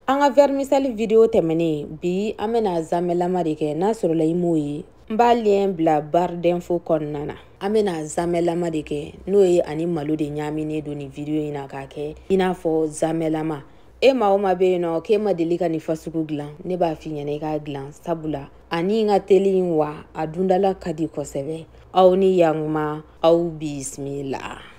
an ka vɛrimisɛli video tɛmɛnen bi an bɛna a zamɛlama de kɛ n'a sɔrɔla i m'o ye n b'a liyɛn bila barre d'info kɔnɔna na an bɛna a zamɛlama de kɛ n'o ye a ni malo de ɲaaminen don nin video in na k'a kɛ i n'a fɔ zamɛlama e maa o maa bɛ yen nɔ k'e ma deli ka nin fasugu dilan ne b'a f'i ɲɛna i k'a dilan sabula ani n ka teli wa a dundala ka di kosɛbɛ aw ni yankuma aw bisimila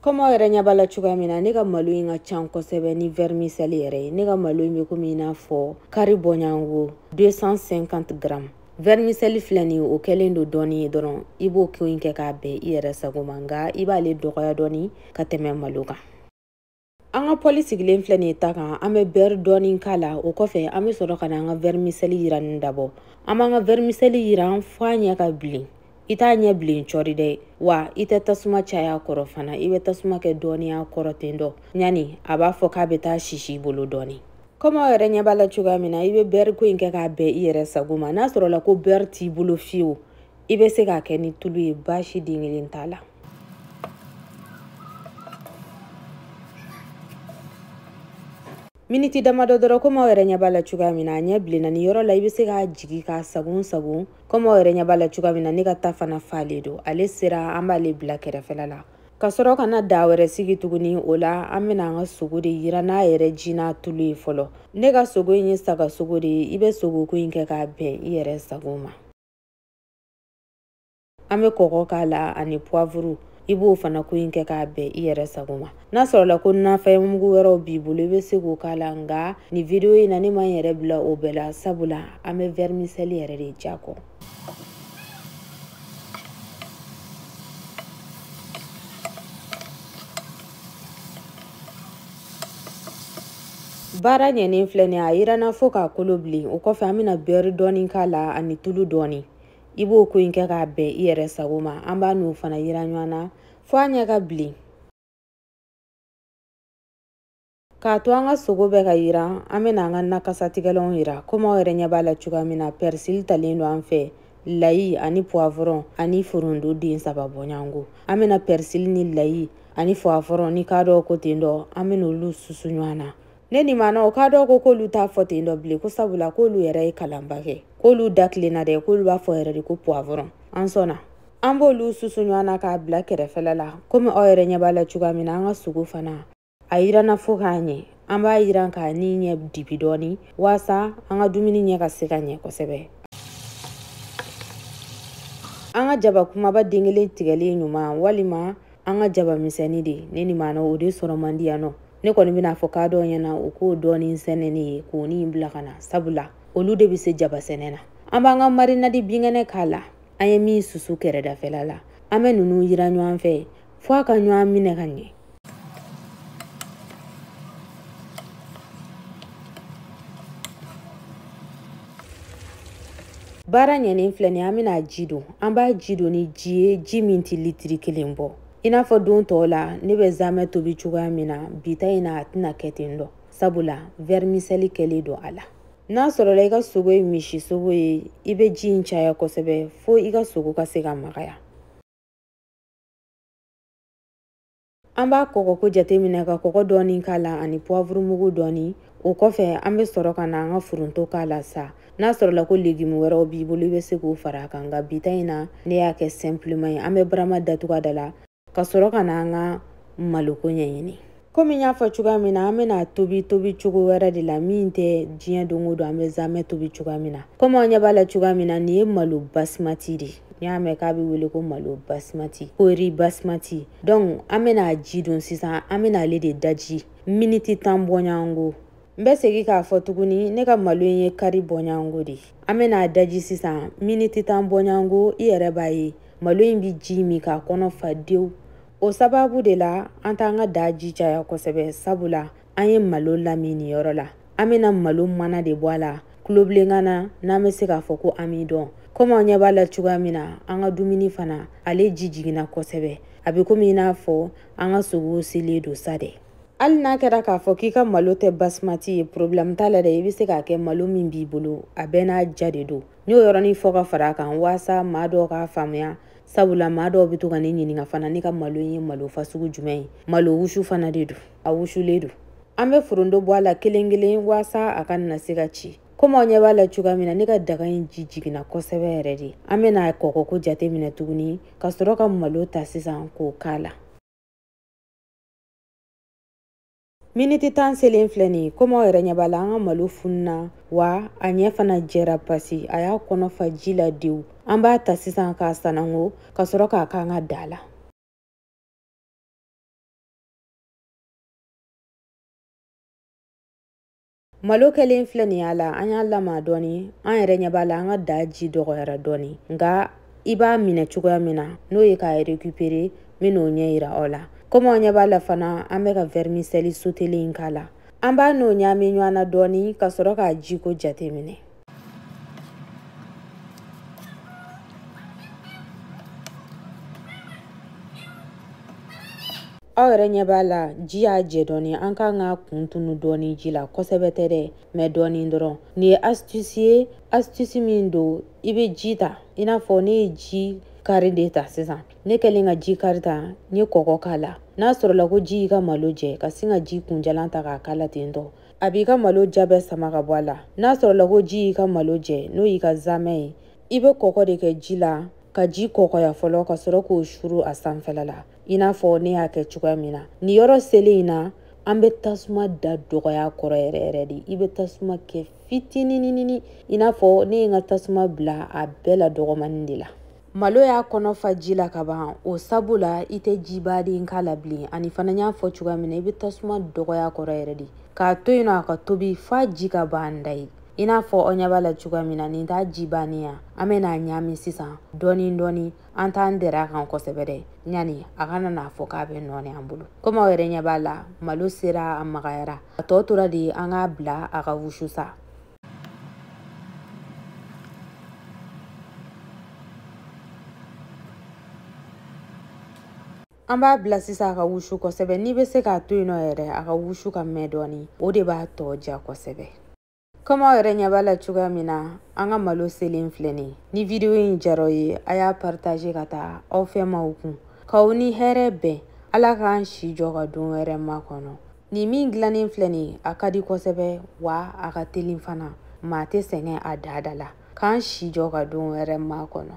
kɔmi aw yɛrɛ ɲɛ b'a la cogoya min na ne ka malo in ka can kosɛbɛ ni vɛrimisɛli yɛrɛ ye ne ka malo in bɛ komi i n'a fɔ kari bɔɲɔgɔn 250 gramme vɛrimisɛli filɛ nin o kɛlen don dɔɔni ye dɔrɔn i b'o ko in kɛ k'a bɛn i yɛrɛ sago ma nka i b'ale dɔgɔya dɔɔni ka tɛmɛ malo kan an ka pɔli sigilen filɛ nin ye ta kan an bɛ bɛri dɔɔni k'a la o kɔfɛ an bɛ sɔrɔ ka na an ka vɛrimisɛli yiranni dabɔ an b'an ka vɛrimisɛli yiran fɔ a ɲɛ ka bilen i t'a ɲɛ bilen cɔri dɛ wa i tɛ tasuma caya a kɔrɔ fana i bɛ tasuma kɛ dɔɔni a kɔrɔ ten dɔ ɲani a b'a fɔ k'a bɛ taa sisi i bolo dɔɔni kɔmi aw yɛrɛ ɲɛ b'a la cogoya min na i bɛ bɛri ko in kɛ k'a bɛn i yɛrɛ sago ma n'a sɔrɔla ko bɛri t'i bolo fiyewu i bɛ se k'a kɛ ni tulu ye baasi den kelen t'a la miniti damadɔ dɔrɔn komi aw yɛrɛ ɲɛ b'a la cogoya min na a ɲɛ bilenna nin yɔrɔ la i bɛ se k'a jigi k'a sagon sagon komi aw yɛrɛ ɲɛ b'a la cogoya min na ne ka ta fana faalen don ale sera an b'ale bila kɛrɛfɛla la ka sɔrɔ ka na daa wɛrɛ sigi tuguni o la an bɛna an ka sogo de yira n'a yɛrɛ ji n'a tulu ye fɔlɔ ne ka sogo in ye sagasogo de ye i bɛ sogoko in kɛ k'a bɛn i yɛrɛ sago ma an bɛ kɔgɔ k'a la ani puwavuru i b'o fana ko in kɛ k'a bɛn i yɛrɛ sago ma n'a sɔrɔla ko nafɛn mugu wɛrɛw b'i bolo i bɛ se k'o k'a la nka nin video in na ne ma n yɛrɛ bila o bɛɛ la sabula an bɛ vɛrimisɛli yɛrɛ de diya kɔ baara ɲɛnen filɛ nin a yiranna fo k'a kolo bilen o kɔfɛ an bɛna bɛri dɔɔni k'a la ani tulu dɔɔni i b'o ko in kɛ k'a bɛn i yɛrɛ sago ma an b'a n'o fana yira ɲɔgɔn na fo a ɲɛ ka bilen k'a to an ka sogo bɛ ka yiran an bɛna an ka nakasatigɛlanw yira komi aw yɛrɛ ɲɛ b'a la cogoya min na pɛrisili talen don an fɛ layi ani puwavɔrɔn ani foronto den saba bɔɲɔgɔn an bɛna pɛrisili ni layi ani puwavɔrɔn ni k'a dɔw ko ten dɔ an bɛna olu susu ɲɔgɔn na ne nin maanaw k'a dɔw ko k'olu t'a fɔ ten dɔ bilen ko sabula k'olu yɛrɛ ye kalanba kɛ k'olu da tilenna dɛ k'olu b'a fɔ yɛrɛ de ko puwavɔrɔn an sɔnna an b'olu susu ɲɔgɔn na k'a bila kɛrɛfɛla la komi aw yɛrɛ ɲɛ b'a la cogoya min na an ka sogo fana a yiranna fo ka ɲɛ an b'a yiran k'a ni ɲɛ dibi dɔɔni waasa an ka dumuni ɲɛ ka se ka ɲɛ kosɛbɛ an ka jaba kumaba den kelen tigɛlen ɲuman walima an ka jaba misɛnni de ne ni maana o de sɔrɔ man di yan nɔ ne kɔni bɛna fɔ kadɔw ɲɛna u k'o dɔɔni sɛnɛ ne ye k'o ni bila ka na sabula olu de bɛ se jaba sɛnɛ na an b'an ka marinadi binkɛnɛ k'a la an ye min susu kɛrɛdafɛla la an bɛ ninnu yiran ɲɔgɔn fɛ fo a ka ɲɔgɔn minɛ ka ɲɛ baara ɲɛnen filɛ nin an bɛna ji don an b'a ji don ni ji ye ji min tɛ litiri kelen bɔ i n'a fɔ don tɔw la ne bɛ zamɛ tobi cogoya min na bi ta in na a tɛna kɛ ten dɔ sabula vɛrimisɛli kɛlen don a la n'a sɔrɔla i ka sogo ye misi sogo ye i bɛ ji in caya kosɛbɛ fo i ka sogo ka se ka magaya An b'a kɔgɔko jateminɛ ka kɔgɔ dɔɔni k'a la ani puwavurumugu dɔɔni o kɔfɛ an bɛ sɔrɔ ka na an ka foronto k'a la sa n'a sɔrɔla ko legimu wɛrɛw b'i bolo i bɛ se k'o fara a kan nka bi ta in na ne y'a kɛ sɛnpilema ye an bɛ barama datugu a da la ka sɔrɔ ka na an ka maloko ɲɛɲini komi n y'a fɔ cogoya min na an bɛna a tobi tobicogo wɛrɛ de la min tɛ diɲɛ don o don an bɛ zamɛ tobi cogoya min na komi aw ɲɛ b'a la cogoya min na nin ye malo basimati de ye n'i y'a mɛn k'a bɛ wele ko malo basimati ko ri basimati donc an bɛna ji don sisan an bɛna ale de daji miniti tan bɔɲɔgɔnko n bɛ segin k'a fɔ tuguni ne ka malo in ye kari bɔɲɔgɔnko de ye an bɛna a daji sisan miniti tan bɔɲɔgɔnko i yɛrɛ b'a ye malo in bɛ ji min k'a kɔnɔ fa dewu o sababu de la an t'an ka daa ji caya kosɛbɛ sabula an ye malo lamin nin yɔrɔ la an bena malo mana de bɔ a la kulobilenkan na n'an be se k'a fɔ ko amidɔn komi aw ɲɛ b'a la cogoya min na an ka dumuni fana ale ji jiginna kosɛbɛ a be komi i n'a fɔ an ka sogow selen don sa dɛ hali n'a kɛra k'a fɔ k'i ka malo tɛ basimati ye porobilɛmu t'a la dɛ i be se k'a kɛ malo min b'i bolo a bɛɛ n'a diya de don n y'o yɔrɔnin fɔ ka fara a kan waasa maa dɔw k'a faamuya sabula maa dɔw bɛ to ka ne ɲininka fana ne ka malo ye malo fasugu jumɛn ye malo wusu fana de don a wusulen don an bɛ forondo bɔ a la kelen kelen waasa a kana se ka ci komi aw ɲɛ b'a la cogoya min na ne ka daga in ji jiginna kosɛbɛ yɛrɛ de an bɛna kɔkɔko jate minɛ tuguni ka sɔrɔ ka malo ta sisan k'o k'a la miniti tan selen filɛ nin ye komi aw yɛrɛ ɲɛ b'a la an ka malo fununa wa a ɲɛ fana jɛra pasi a y'a kɔnɔ fa ji la dewu an b'a ta sisan k'a sanango ka sɔrɔ k'a k'an ka daa la malo kɛlen filɛ nin y'a la an y'a lama dɔɔni an yɛrɛ ɲɛ b'a la an ka daa ji dɔgɔyara dɔɔni nka i b'a minɛ cogoya min na n'o ye k'a rekupere n bɛ n'o ɲɛ yira aw la komi aw ɲɛ b'a la fana an b'an ka vɛrimisɛli sotelen in k'a la an b'a n'o ɲaami ɲɔgɔn na dɔɔni ka sɔrɔ k'a jiko jate minɛ aw yɛrɛ ɲɛ b'a la ji y'a jɛ dɔɔni an kan k'a kun tunu dɔɔni ji la kosɛbɛ tɛ dɛ mɛ dɔɔni dɔrɔn nin ye astuce ye astuce min don i bɛ ji ta i n'a fɔ ne ye ji kari de ta sisan ne kɛlen ka ji kari ta n ye kɔkɔ k'a la n'a sɔrɔla ko ji y'i ka malo jɛ ka sin ka ji kunjalan ta k'a k'a la ten tɔ a b'i ka malo ja bɛɛ sama ka bɔ a la n'a sɔrɔla ko ji y'i ka malo jɛ n'o y'i ka zamɛ ye i bɛ kɔkɔ de kɛ ji la ka ji kɔkɔya fɔlɔ ka sɔrɔ k'o suru a sanfɛla la i n'a fɔ ne y'a kɛ cogoya min na nin yɔrɔ selen in na an bɛ tasuma da dɔgɔya kɔrɔ yɛrɛ yɛrɛ de i bɛ tasuma kɛ fitininini i n'a fɔ ne ye n ka tasuma bila a bɛɛ la dɔgɔmani de la malo y'a kɔnɔ fa ji la ka ban o sabu la i tɛ jiba de k'a la bilen ani fana n y'a fɔ cogoya min na i bɛ tasuma dɔgɔya kɔrɔ yɛrɛ de k'a to yen nɔ a ka tobi f'a ji ka ban dayi i n'a fɔ aw ɲɛ b'a la cogoya min na nin t'a ji bannen ye an bɛ n'a ɲaami sisan dɔɔnin dɔɔnin an t'an dɛrɛ a kan kosɛbɛ dɛ ɲani a kana n'a fɔ k'a bɛ nɔɔni an bolo komi aw yɛrɛ ɲɛ b'a la malo sera a magayara a tɔ tora de an k'a bila a ka wusu sa an b'a bila sisan a ka wusu kosɛbɛ n'i bɛ se k'a to yen nɔ yɛrɛ a ka wusu ka mɛn dɔɔni o de b'a tɔ ja kosɛbɛ komi aw yɛrɛ ɲɛ b'a la cogoya min na an ka malo selen filɛ nin ye ni vidiyo in jar'aw ye a y'a paritaze ka taa aw fɛ maaw kun k'aw ni hɛrɛ bɛn ala k'an si jɔ ka don wɛrɛ makɔnɔ nin min dilannen filɛ nin ye a ka di kosɛbɛ wa a ka telin fana maa tɛ sɛgɛn a daa da la k'an si jɔ ka don wɛrɛ makɔnɔ